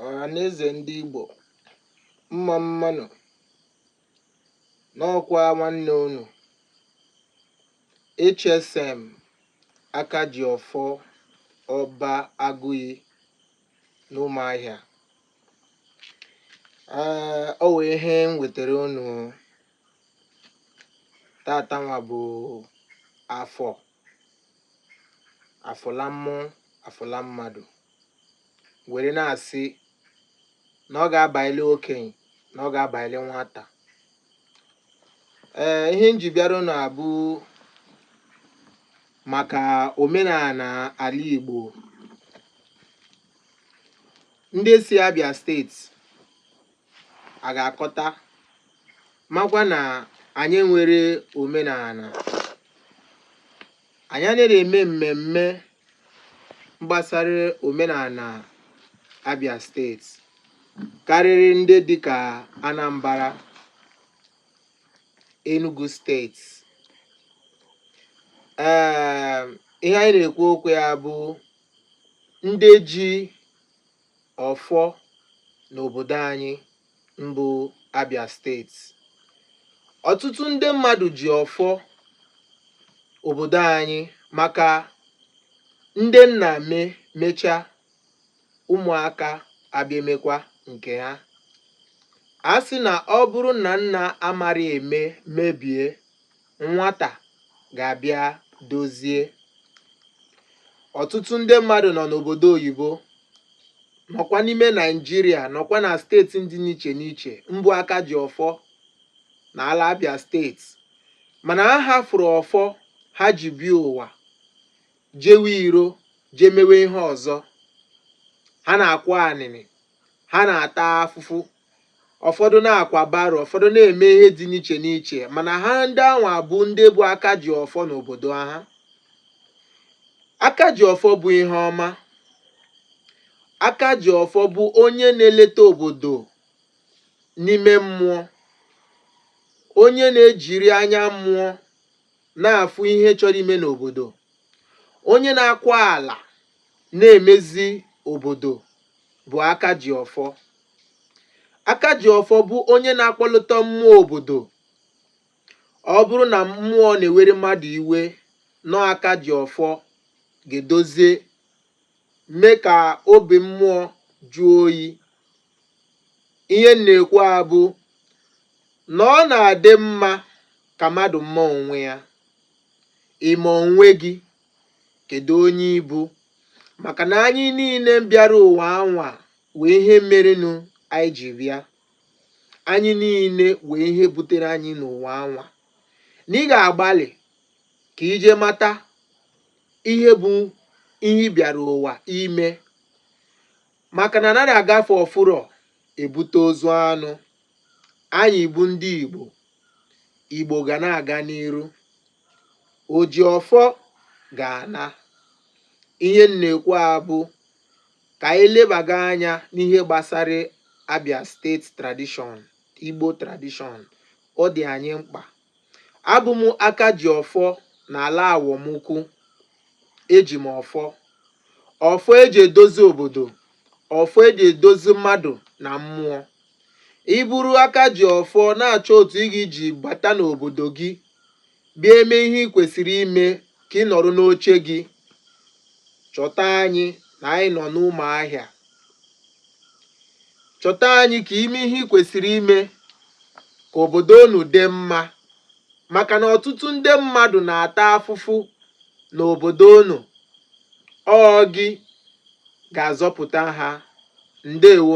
Ọhaneze ndị Igbo, mma mma nụ n'ọkwa nwanne unu HSM Akajiọfọ Ọba Agụiyi n'Ụmụahịa. Ee, ọ wụ ihe m wetara unu taata nwa bụ afọ afụla mmụọ afụla mmadụ were na-asị na ọ ga-abaịlị okenye na ọ ga-abaịlị nwata ee ihe m ji bịara unu a bụ maka omenala ala Igbo ndị si Abia steeti a ga-akọta makwa na anyị nwere omenala anyị anaghị eme mmemme gbasara omenala Abia steeti karịrị ndị dịka Anambra Enugu steeti ee ihe anyị na-ekwu okwu ya bụ ndị ji Ọfọ n'obodo anyị mbụ Abia steeti. Ọtụtụ ndị mmadụ ji ọfọ obodo anyị maka ndị nna m emecha ụmụaka abịa emekwa nke ha. A sị na ọ bụrụ na nna amara eme mebie Nwata ga-abịa dozie. Ọtụtụ ndị mmadụ nọ n'obodo oyibo nọkwa n'ime Naịjirịa nọkwa na steeti dị n'iche n'iche mbụ aka ji ọfọ na ala Abia steeti mana ha hafụrụ ọfọ ha ji bịa ụwa jewe iro jee mewe ihe ọzọ ha na-akwa anịnị ha na-ata afụfụ ụfọdụ na-akwa baro ụfọdụ na-eme ihe dị n'iche n'iche mana ha ndị anwa bụ ndị bụ aka ji ọfọ n'obodo ha aka ji ọfọ bụ ihe ọma aka ji ọfọ bụ onye na-eleta obodo n'ime mmụọ onye na-ejiri anya mmụọ na-afụ ihe chọrọ ime n'obodo onye na-akwa ala na-emezi obodo bụ aka ji ọfọ Akajiọfọ bụ onye na-akpọlịta mmụọ obodo ọ bụrụ na mmụọ na-ewere mmadụ iwe n'ọ Akajiọfọ ga-edozie mee ka obi mmụọ jụọ oyi ihe m na-ekwu a bụ na ọ na-adị mma ka mmadụ ma onwe ya ị ma onwe gị kedu onye ị bụ maka na anyị niile bịara ụwa anwa nwee ihe merenụ anyị ji bịa anyị niile nwee ihe butere anyị n'ụwa anwa na ị ga-agbalị ka i je mata ihe bụ ihe ị bịara ụwa ime maka na anaghị agafe ọfụrọ ebute ozu anụ anyị bụ ndị Igbo Igbo ga na-aga n'iru oji ọfọ ga-ana ihe m na-ekwu a bụ Ka anyị lebaga anya n'ihe gbasara Abia State Tradition, Igbo Tradition. Ọ dị anyị mkpa. Abụ m aka ji ọfọ n'ala Awọmukwu. Eji m ọfọ. Ọfọ eji edozi obodo. Ọfọ eji edozi mmadụ na mmụọ. Ị bụrụ aka ji ọfọ na-achọ otu ị ga-eji bata n'obodo gị Bịa mee ihe i kwesịrị ime ka ị nọrọ n'oche gị. Chọta anyị na anyị nọ n'Ụmụahịa. Chọta anyị ka i mee ihe i kwesịrị ime ka obodo unu dị mma maka na ọtụtụ ndị mmadụ na-ata afụfụ n'obodo unu. Ọ gị ga-azọpụta ha. Ndewo.